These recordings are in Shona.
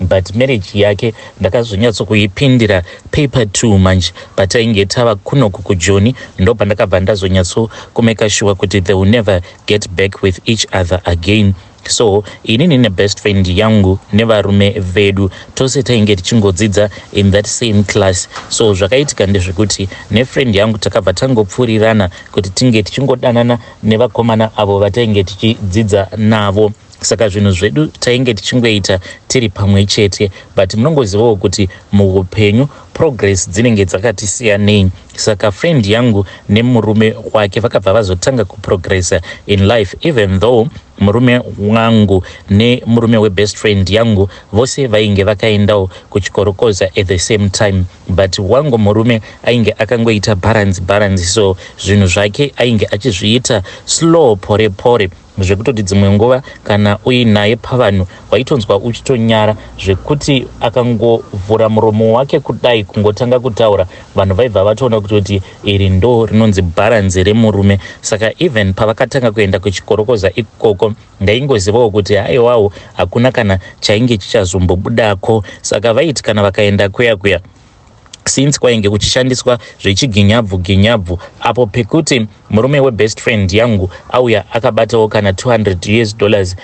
But marriage yake ndakazonyatso kuipindira paper two manje patainge tava kunoku kujoni ndopandakabva ndazonyatso kumeka shuwa kuti they will never get back with each other again so inini nebest friend yangu nevarume vedu tose tainge tichingodzidza in that same class so zvakaitika ndezvekuti nefriend yangu takabva tangopfurirana kuti tinge tichingodanana nevakomana avo vatainge tichidzidza navo saka zvinhu zvedu tainge tichingoita tiri pamwe chete but munongozivawo kuti muupenyu progress dzinenge dzakatisiyanei saka friend yangu nemurume wake vakabva vazotanga kuprogressa in life even though murume wangu nemurume webest friend yangu vose vainge vakaendawo kuchikorokoza at the same time but wangu murume ainge akangoita balance balance so zvinhu zvake ainge achizviita slow pore pore zvekutoti dzimwe nguva kana uinaye pavanhu waitonzwa uchitonyara zvekuti akangovhura muromo wake kudai kungotanga kutaura vanhu vaibva vatoona kutoti iri ndo rinonzi bharanzi remurume saka even pavakatanga kuenda kuchikorokoza ikoko ndaingozivawo kuti haiwawo hakuna kana chainge chichazombobudako saka vaiti kana vakaenda kuya kuya since kwainge kuchishandiswa zvechiginyabvu ginyabvu apo pekuti murume webest friend yangu auya akabatawo kana 200 us dollars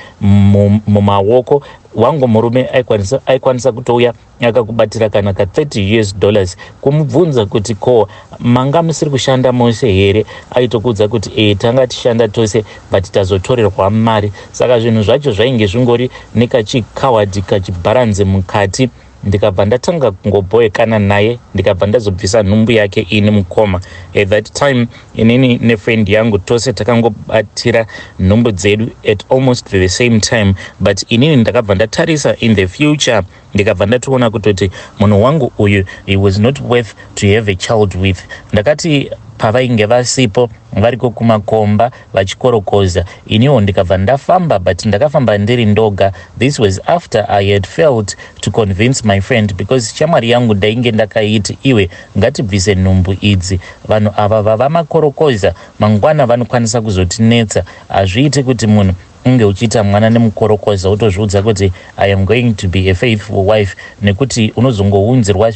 mumaoko wangu murume aikwanisa, aikwanisa kutouya akakubatira kana ka 30 us dollars kumubvunza kuti ko manga musiri kushanda mose here aitokuudza kuti e tanga tishanda tose but tazotorerwa mari saka zvinhu zvacho zvainge zvingori nekachikawadhi kachibharanzi mukati ndikabva ndatanga kungobhoekana naye ndikabva ndazobvisa nhumbu yake ini mukoma at that time inini nefriend yangu tose takangobatira nhumbu dzedu at almost the same time but inini ndakabva ndatarisa in the future ndikabva ndatoona kutoti munhu wangu uyu he was not worth to have a child with ndakati pavainge vasipo variko kumakomba vachikorokoza iniwo ndikabva ndafamba but ndakafamba ndiri ndoga this was after i had failed to convince my friend because shamwari yangu ndainge ndakaiti iwe ngatibvise nhumbu idzi vanhu ava vava makorokoza mangwana vanokwanisa kuzotinetsa hazviiti kuti munhu unge uchiita mwana nemukorokoza wotozviudza kuti i am going to be a faithful wife nekuti unozongounzirwa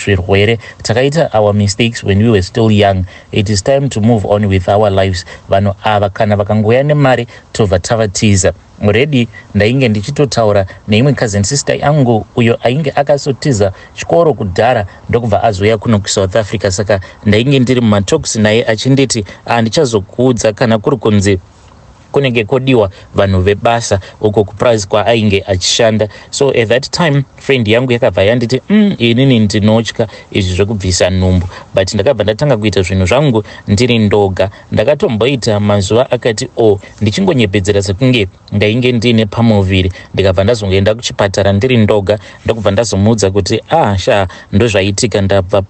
zvirwere takaita our mistakes when we were still young it is time to move on with our lives vanhu ava kana vakangouya nemari tobva tavatiza redi ndainge ndichitotaura neimwe cousin sister yangu uyo ainge akasotiza chikoro kudhara ndokubva azouya kuno kusouth africa saka ndainge ndiri mumatoks naye achinditi handichazokuudza kana kuri kunzi kunenge kodiwa vanhu vebasa uko kuprazi kwaainge achishanda so at that time friend yangu yakabva yanditi mm, inini ndinotya izvi zvekubvisa nhumbu but ndakabva ndatanga kuita zvinhu zvangu ndiri ndoga ndakatomboita mazuva akati o oh, ndichingonyepedzera sekunge ndainge ndiine pamuviri ndikabva ndazongoenda kuchipatara ndiri ndoga ndokubva ndazomuudza kuti ah sha ndozvaitika ndabva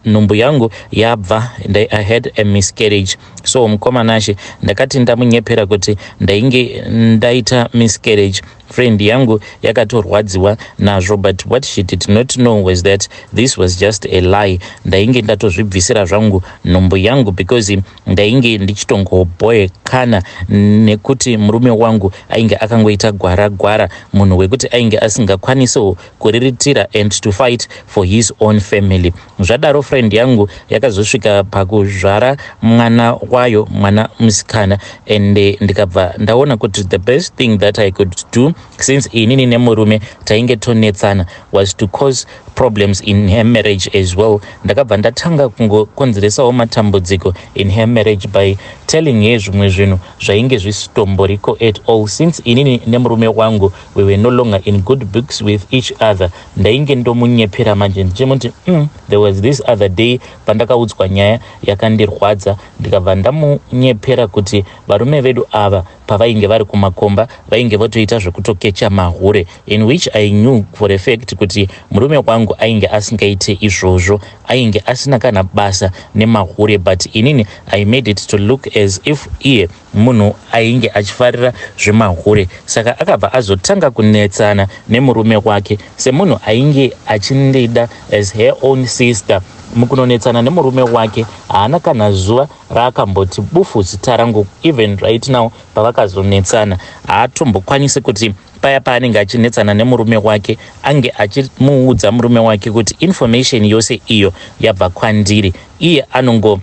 nhumbu yangu yabva i had a miscarriage so mukoma nashe ndakati ndamunyepera kuti ndainge ndaita miscarriage friend yangu yakatorwadziwa nazvo but what she did not know was that this was just a lie ndainge ndatozvibvisira zvangu nhumbu yangu because ndainge ndichitongoboekana nekuti murume wangu ainge akangoita gwara gwara munhu wekuti ainge asingakwanisewo kuriritira and to fight for his own family Zvadaro friend yangu yakazosvika pakuzvara mwana wayo mwana musikana and eh, ndikabva ndaona kuti the best thing that i could do since inini nemurume tainge tonetsana was to cause problems in her marriage as well ndakabva ndatanga kungokonzeresawo matambudziko in her marriage by telling her zvimwe zvinhu zvainge zvisitomboriko at all since inini nemurume wangu we were no longer in good books with each other ndainge ndomunyepera manje ndichimuti mm, there was this other day pandakaudzwa nyaya yakandirwadza ndikabva ndamunyepera kuti varume vedu ava pavainge vari kumakomba vainge votoita zvekutokecha mahure in which i knew for a fact kuti murume wangu ainge asingaite izvozvo ainge asina kana basa nemahure but inini i made it to look as if iye Munhu ainge achifarira zvemahure saka akabva azotanga kunetsana nemurume wake semunhu ainge achindida as her own sister. Mukunonetsana nemurume wake haana kana zuva raakamboti bufu zita rangu even right now pavakazonetsana haatombokwanisi kuti paya paanenge achinetsana nemurume wake ange achimuudza murume wake kuti information yose iyo yabva kwandiri iye anongo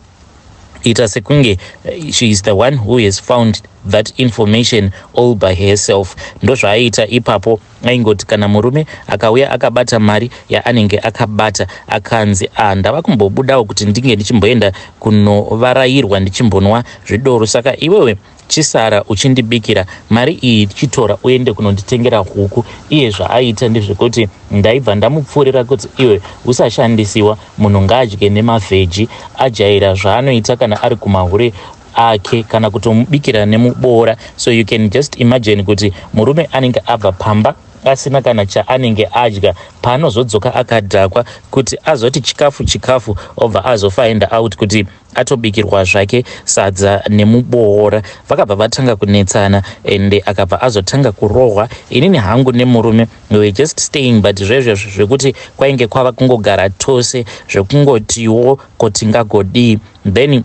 ita sekunge eh, she is the one who has found that information all by herself ndozvaaiita ipapo aingoti kana murume akauya akabata mari yaanenge akabata akanzi ah ndava kumbobudawo kuti ndinge ndichimboenda kunovarairwa ndichimbonwa zvidoro saka iwewe Chisara uchindibikira, mari iyi chitora uende kunonditengera huku. Iye zvaaita ndezvekuti ndaibva ndamupfuurira kuti iwe usashandisiwa, munhu ngaadye nemavheji. Ajaira zvaanoita kana ari kumahure ake kana kutomubikira nemuboora so you can just imagine kuti murume anenge abva pamba asina kana chaanenge adya paanozodzoka akadhakwa kuti azoti chikafu chikafu obva azofaenda out kuti atobikirwa zvake sadza nemuboora vakabva vatanga kunetsana ende akabva azotanga kurohwa inini hangu nemurume we just staying but zvezvezvo zvekuti kwainge kwava kungogara tose zvekungotiwo ko tingagodii then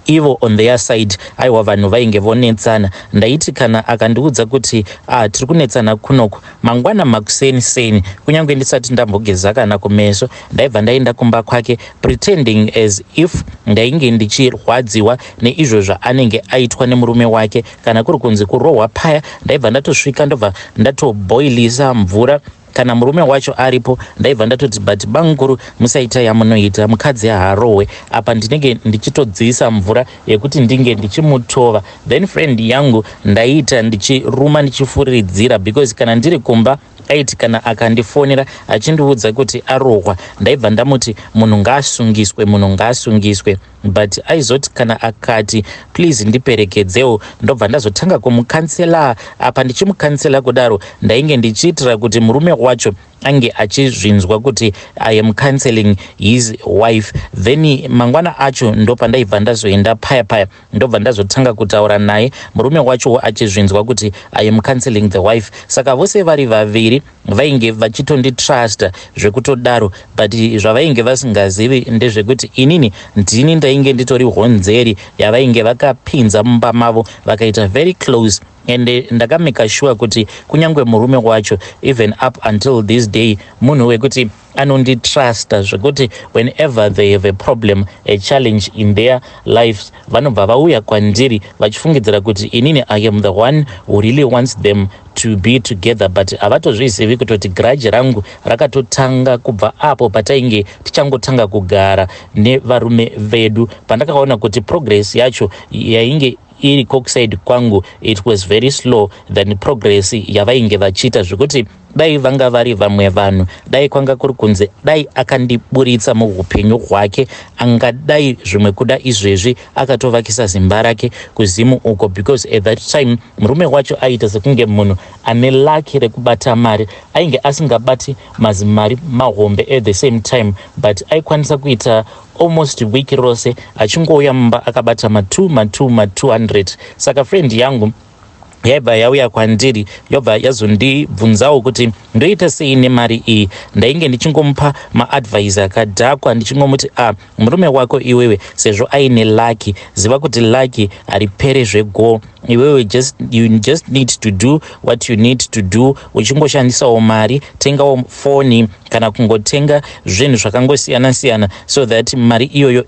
ivo on their side aiwa vanhu vainge vonetsana ndaiti kana akandiudza kuti ah, tiri kunetsana kunoku Mangwana makuseni seni, kunyange ndisati ndambogeza kana kumeso, ndaibva ndaenda kumba kwake pretending as if ndainge ndichirwadziwa neizvo zvaanenge aitwa nemurume wake. Kana kuri kunzi kurohwa paya, ndaibva ndatosvika ndobva ndatoboilisa mvura kana murume wacho aripo ndaibva ndatoti but bamukuru musaita yamunoita mukadzi haarohwe apa ndinenge ndichitodziisa mvura yekuti ndinge ndichimutova then friend yangu ndaiita ndichiruma ndichifuridzira because kana ndiri kumba aiti kana akandifonera achindiudza kuti arohwa ndaibva ndamuti munhu ngaasungiswe munhu ngaasungiswe but aizoti kana akati please ndiperekedzewo ndobva ndazotanga kumukansela apa ndichimukansela kudaro ndainge ndichiitira kuti murume wacho ange achizvinzwa kuti i am cancelling his wife then mangwana acho ndopandaibva ndazoenda paya paya ndobva ndazotanga kutaura naye murume wachowo achizvinzwa kuti i am cancelling the wife saka vose vari vaviri vainge vachitonditrusta zvekutodaro but zvavainge vasingazivi ndezvekuti inini ndini ndainge nditori honzeri yavainge vakapinza mumba mavo vakaita very close and ndakamaker sure kuti kunyange murume wacho even up until this day munhu wekuti anonditrusta zvekuti whenever they have a problem a challenge in their lives vanobva vauya kwandiri vachifungidzira kuti inini i am the one who really wants them to be together but havatozvizivi kutoti grudge rangu rakatotanga kubva apo patainge tichangotanga kugara nevarume vedu pandakaona kuti progress yacho yainge iri coxide kwangu it was very slow than progress yavainge vachiita zvekuti dai vanga vari vamwe vanhu dai kwanga kuri kunzi dai akandiburitsa muupenyu hwake angadai zvimwe kuda izvezvi akatovakisa zimba rake kuzimu uko because at that time murume wacho aiita sekunge munhu ane laki rekubata mari ainge asingabati mazimari mahombe at the same time but aikwanisa kuita almost week rose achingouya mumba akabata ma 2 ma 2 ma 200 saka friend yangu yaibva yauya kwandiri yobva yazondibvunzawo kuti ndoita sei nemari iyi ndainge ndichingomupa maadvise akadhakwa ndichingomuti a ah, murume wako iwewe sezvo aine lucky ziva kuti lucky haripere zvegoo iwewe just, you just need to do what you need to do uchingoshandisawo mari tengawo foni kana kungotenga zvinhu zvakangosiyana siyana so that mari iyoyo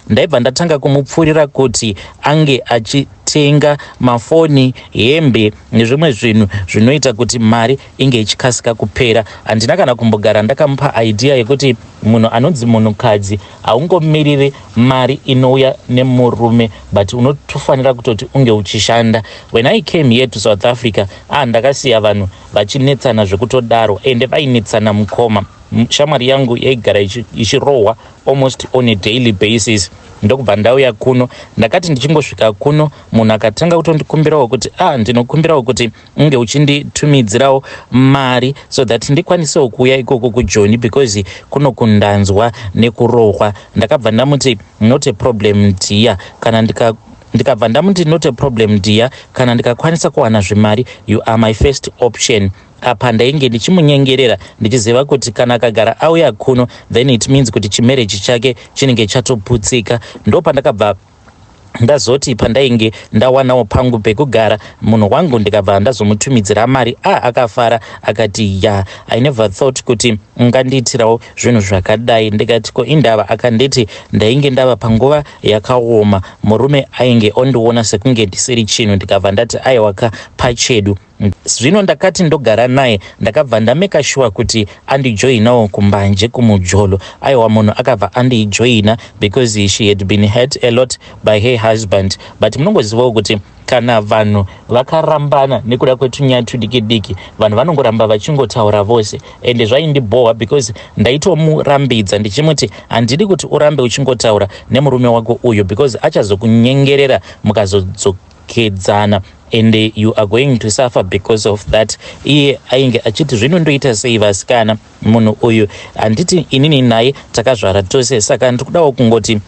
ndaibva ndatanga kumupfuurira kuti ange achitenga mafoni hembe nezvimwe zvinhu zvinoita kuti mari inge ichikasika kupera handina kana kumbogara ndakamupa idea yekuti munhu anonzi munhukadzi haungomiriri mari inouya nemurume but unotofanira kutoti unge uchishanda when i came here to south africa ah ndakasiya vanhu vachinetsana zvekutodaro ende vainetsana mukoma shamwari yangu yaigara ichirohwa almost on a daily basis ndokubva ndauya kuno ndakati ndichingosvika kuno munhu akatanga kutondikumbirawo kuti a ah, ndinokumbirawo kuti unge uchinditumidzirawo mari so that ndikwanisewo kuuya ikoko kujoni because kuno kundanzwa nekurohwa ndakabva ndamuti not a problem dia kana ndika ndikabva ndamuti not a problem dear kana ndikakwanisa kuwana zvemari you are my first option apa ndainge ndichimunyengerera ndichiziva kuti kana akagara auya kuno then it means kuti chimereji chake chinenge chatoputsika ndo pandakabva ndazoti pandainge ndawanawo pangu pekugara munhu wangu ndikabva ndazomutumidzira mari a ah, akafara akati ya yeah. i never thought kuti ungandiitirawo zvinhu zvakadai ndikati ko indava akanditi ndainge ndava panguva yakaoma Murume ainge ondiona sekunge ndisiri chinhu ndikabva ndati aiwa ka pachedu. Zvino ndakati ndogara naye ndakabva ndameka shuwa kuti andijoinawo kumbanje kumujolo. Aiwa munhu akabva andijoina because she had been hurt a lot by her husband but munongozivawo kuti Kana vanhu vakarambana nekuda kwetunyaya tudiki diki vanhu vanongoramba vachingotaura vose ende zvaindibhohwa because ndaitomurambidza ndichimuti handidi kuti urambe uchingotaura nemurume wako uyu because achazokunyengerera mukazodzoka kedzana and you are going to suffer because of that iye ainge achiti zvino ndoita sei vasikana munhu uyu handiti inini naye takazvara tose saka ndiri kudawo kungoti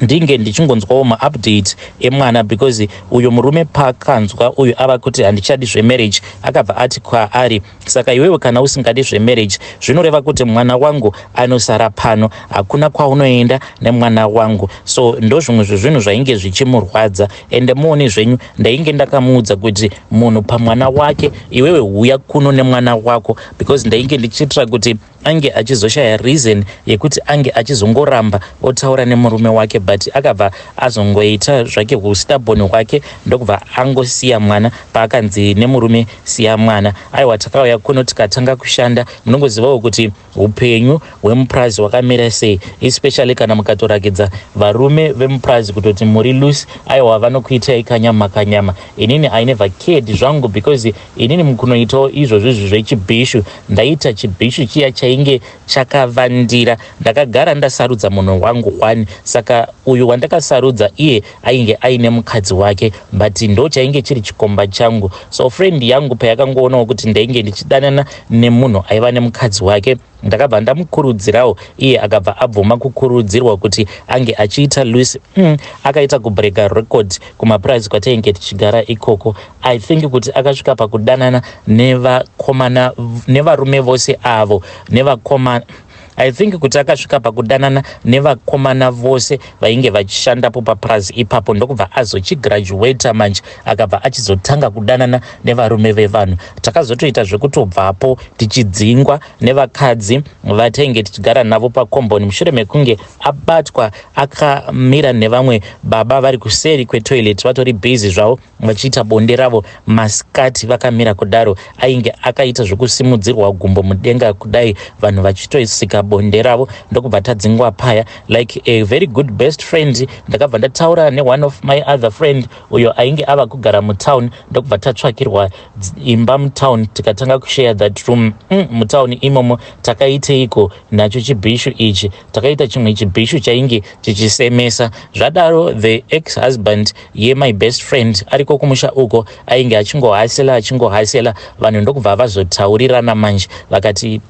ndinge ndichingonzwawo maupdate emwana because uyo murume paakanzwa uyu ava kuti handichadi zvemarriage akabva ati kwaari saka iwewe kana usingadi zvemarriage zvinoreva kuti mwana wangu anosara pano hakuna kwaunoenda nemwana wangu so ndozvimwe zvezvinhu zvainge zvichimurwadza ende muone zvenyu ndainge ndakamuudza kuti munhu pamwana wake iwewe huya kuno nemwana wako because ndainge ndichitira kuti ange achizoshaya reason yekuti ange achizongoramba otaura nemurume wake but akabva azongoita zvake ustubborn hwake ndokubva angosiya mwana paakanzi nemurume siya mwana aiwa takauya kuno tikatanga kushanda munongozivawo kuti Upenyu hwemupurazi hwakamira sei especially kana mukatorakidza varume vemupurazi kutoti muri loose aiwa vanokuitai kanyama kanyama inini i never cared zvangu because inini mukunoitawo izvo zvizvi zvechibhishu ndaita chibhishu chiya chainge chakavandira ndakagara ndasarudza munhu wangu one saka uyu wandakasarudza iye ainge aine mukadzi wake but ndo chainge chiri chikomba changu so friend yangu payakangoonawo kuti ndainge ndichidanana nemunhu aiva nemukadzi wake ndakabva ndamukurudzirawo iye akabva abvuma kukurudzirwa kuti ange achiita luis mm, akaita kubrega record kumapurazi kwatainge tichigara ikoko i think kuti akasvika pakudanana nevakomana nevarume vose avo nevakomana I think kuti akasvika pakudanana nevakomana vose vainge vachishandapo papurazi ipapo ndokubva azochigraduata manje akabva achizotanga kudanana nevarume vevanhu. Takazotoita zvekutobvapo tichidzingwa nevakadzi vatainge tichigara navo pakomboni mushure mekunge abatwa akamira nevamwe baba vari kuseri kwetoilet vatori busy zvavo. muchiita bonde ravo masikati vakamira kudaro ainge akaita zvekusimudzirwa gumbo mudenga kudai vanhu vachitoisika bonde ravo ndokubva tadzingwa paya like a very good best friend ndakabva ndataura neone of my other friend uyo ainge ava kugara mutown ndokubva tatsvakirwa imba mutown tikatanga kushare that room mm, mutown imomo takaiteiko nacho chibhishu ichi takaita chimwe chibhishu chainge chichisemesa zvadaro the ex husband yemy best friend ariko kumusha uko ainge achingohasela achingohasela vanhu ndokubva vazotaurirana manje vakati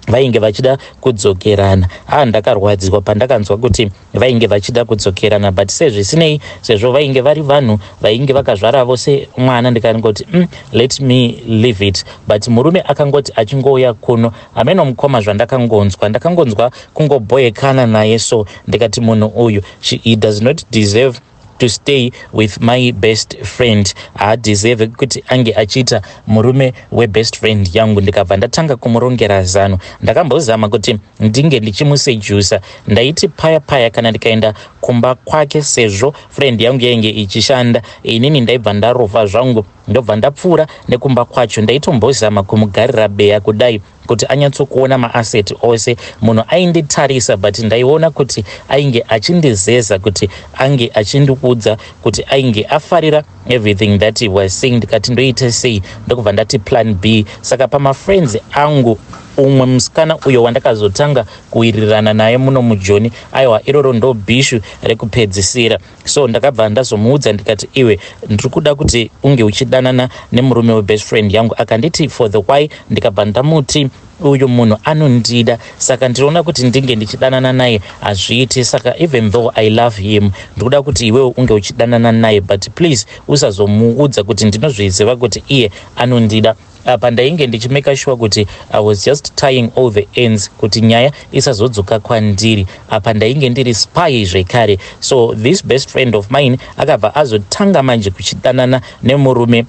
vainge vachida kudzokerana a ah, ndakarwadziwa pandakanzwa kuti vainge vachida kudzokerana but sezvisinei sezvo vainge vari vanhu vainge vakazvara vose mwana ndikangoti mm, let me leave it but murume akangoti achingouya kuno Hameno mukoma zvandakangonzwa ndakangonzwa kungobhoyekana naye so ndikati munhu uyu she, he does not deserve to stay with my best friend haadeserve kuti ange achiita murume webest friend yangu ndikabva ndatanga kumurongera zano ndakambozama kuti ndinge ndichimusejusa ndaiti paya paya kana ndikaenda kumba kwake sezvo friend yangu yainge ichishanda inini ndaibva ndarova zvangu ndobva ndapfuura nekumba kwacho ndaitombozama kumugarira beya kudai kuti anyatsokuona maasset ose munhu ainditarisa but ndaiona kuti ainge achindizeza kuti ange achindikuudza kuti ainge afarira everything that he was saying ndikati ndoite sei ndokubva ndati plan b saka pamafriends angu umwe musikana uyo wandakazotanga kuwirirana naye muno mujoni aiwa iroro ndobhishu rekupedzisira so ndakabva ndazomuudza ndikati iwe ndiri kuda kuti unge uchidanana nemurume webest friend yangu akanditi for the why ndikabva ndamuti uyu munhu anondida saka ndinoona kuti ndinge ndichidanana naye hazviiti saka even though i love him ndikuda kuti iwewo unge uchidanana naye but please usazomuudza kuti ndinozviziva kuti iye anondida Apa ndainge ndichimaker sure kuti I was just tying all the ends kuti nyaya isazodzoka kwandiri. Apa ndainge ndiri spy zvekare. So this best friend of mine akabva azotanga manje kuchidanana nemurume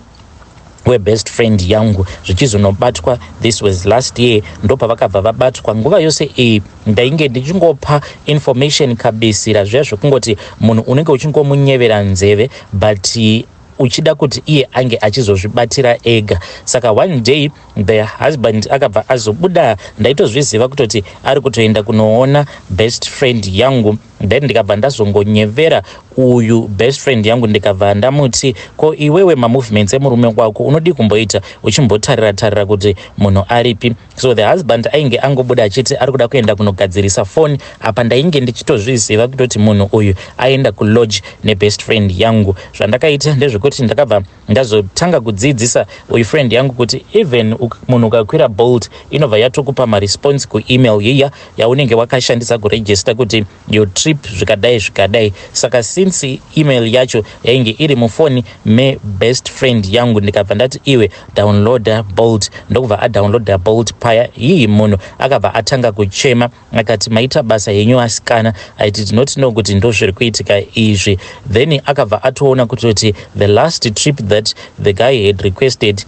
webest friend yangu zvichizonobatwa this was last year ndopavakabva vabatwa nguva yose iyi ndainge ndichingopa information kabisira zviya zvekungoti munhu unenge uchingomunyevera nzeve but uchida kuti iye ange achizozvibatira ega saka one day the husband akabva azobuda ndaitozviziva kutoti ari kutoenda kunoona best friend yangu then ndikabva ndazongonyevera uyu best friend yangu ndikabva ndamuti ko iwewe mamovements emurume wako unodii kumboita uchimbotarira tarira kuti munhu aripi so the husband ainge angobuda achiti ari kuda kuenda kunogadzirisa foni apa ndainge ndichitozviziva kutoti munhu uyu aenda kulodge nebest friend yangu zvandakaita ndezvekuti ndakabva ndazotanga kudziidzisa uyu friend yangu kuti even munhu ukakwira bolt inobva yatokupa maresponse kuemail yiya yaunenge wakashandisa kuregista kuti your trip zvikadai zvikadai saka since email yacho yainge iri mufoni mebest friend yangu ndikabva ndati iwe downloader bolt ndokubva adownloader bolt paya hii munhu akabva atanga kuchema akati maita basa henyu asikana i did not know kuti ndozviri kuitika izvi then akabva atoona kutoti the last trip that the guy had requested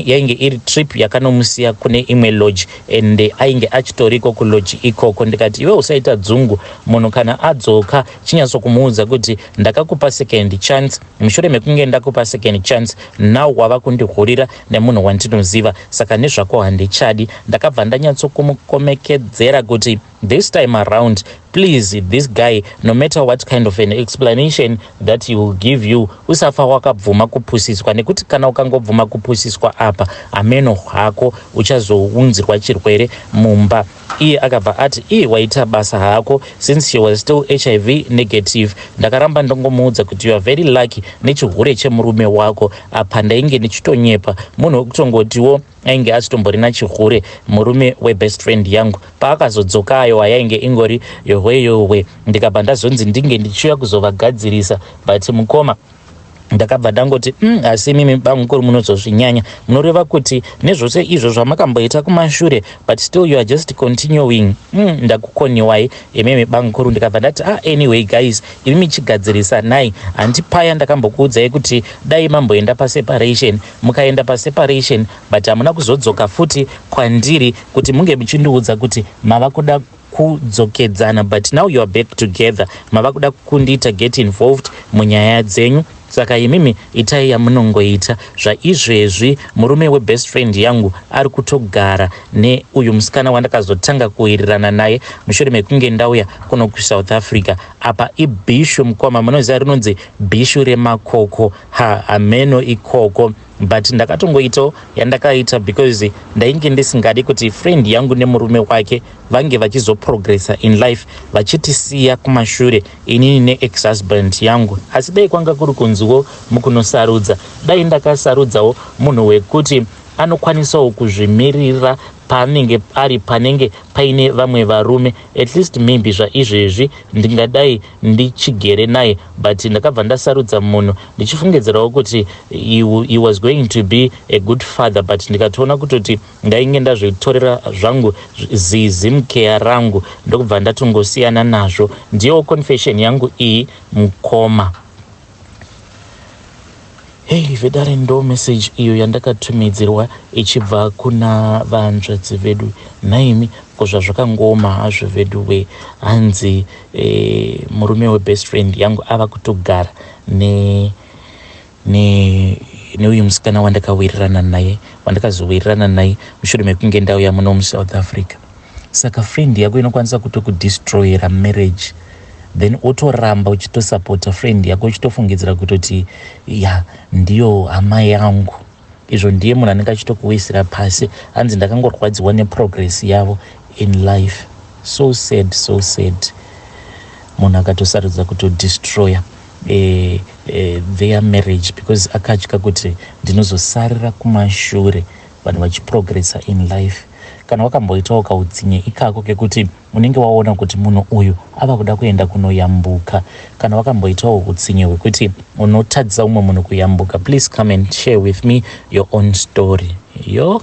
yainge iri trip yakanomusiya kune imwe lodge and ainge achitoriko kulodge ikoko ndikati iwe usaita dzungu munhu kana adzoka chinyatso kumuudza kuti ndakakupa second chance mushure mekunge ndakupa second chance now wava kundihurira nemunhu wandinoziva saka nezvako handichadi ndakabva ndanyatso kumukomekedzera kuti This time around please this guy no matter what kind of an explanation that he will give you usafa wakabvuma kupusiswa nekuti kana ukangobvuma kupusiswa apa ameno hwako uchazounzirwa chirwere mumba iye akabva ati iye waita basa hako since she was still hiv negative ndakaramba ndongomuudza kuti youare very lucky nechihure chemurume wako apa ndainge ndichitonyepa munhu wekutongotiwo ainge asitombo rina chihure murume webest friend yangu paakazodzoka ayowa yainge ingori yohwe yohwe ndikabva ndazonzi ndinge ndichiuya kuzovagadzirisa but mukoma ndakabva ndangoti mm, asi mm, imimi bamukuru munozozvinyanya munoreva kuti nezvose izvo zvamakamboita kumashure but still you are just continuing mm, ndakukoniwai imimi bamukuru ndikabva ndati ah, anyway guys imimi chigadzirisanai handi paya ndakambokuudzai kuti dai mamboenda paseparation mukaenda pa separation but hamuna kuzodzoka futi kwandiri kuti munge muchindiudza kuti mava kuda kudzokedzana but now youare back together mava kuda kundiita get involved munyaya dzenyu saka imimi itai yamunongoita zvaizvezvi murume webest friend yangu ari kutogara neuyu musikana wandakazotanga kuwirirana naye mushure mekunge ndauya kuno kusouth africa apa ibhishu mukoma munoziva rinonzi bhishu remakoko Ha, hameno ikoko but ndakatongoitawo yandakaita because ndainge ndisingadi kuti friend yangu nemurume wake vange vachizoprogressa in life vachitisiya kumashure inini neex husband yangu asi dai kwanga kuri kunziwo mukunosarudza dai ndakasarudzawo munhu wekuti anokwanisawo kuzvimirira paanenge ari panenge paine vamwe varume at least maybe zvaizvezvi ndingadai ndichigere naye but ndakabva ndasarudza munhu ndichifungidzirawo kuti he, he was going to be a good father but ndikatoona kutoti ndainge ndazvitorera zvangu zizimkeya rangu ndokubva ndatongosiyana nazvo ndiyewo confession yangu iyi mukoma Hey vedare ndo message iyo yandakatumidzirwa ichibva kuna vanzvadzi vedu nhaimi ko zvazvakangooma hazvo vedu we hanzi eh, murume webest friend yangu ava kutogara ne ne neuyu musikana wandakawirirana naye wandakazowirirana naye mushure mekunge ndauya muno musouth africa saka friend yako inokwanisa kutokudestroyera marriage then otoramba uchitosapota friend yako uchitofungidzira kutoti ya ndiyo hama yangu izvo ndiye munhu anenge achitokuwisira pasi hanzi ndakangorwadziwa neprogress yavo in life so sad so sad munhu akatosarudza kutodestroyer eh, eh, their marriage because akatya kuti ndinozosarira kumashure vanhu vachiprogressa in life kana wakamboitawo kautsinye ikako kekuti unenge waona kuti munhu uyu ava kuda kuenda kunoyambuka kana wakamboitawo utsinye hwekuti unotadzisa umwe munhu kuyambuka please come and share with me your own story yo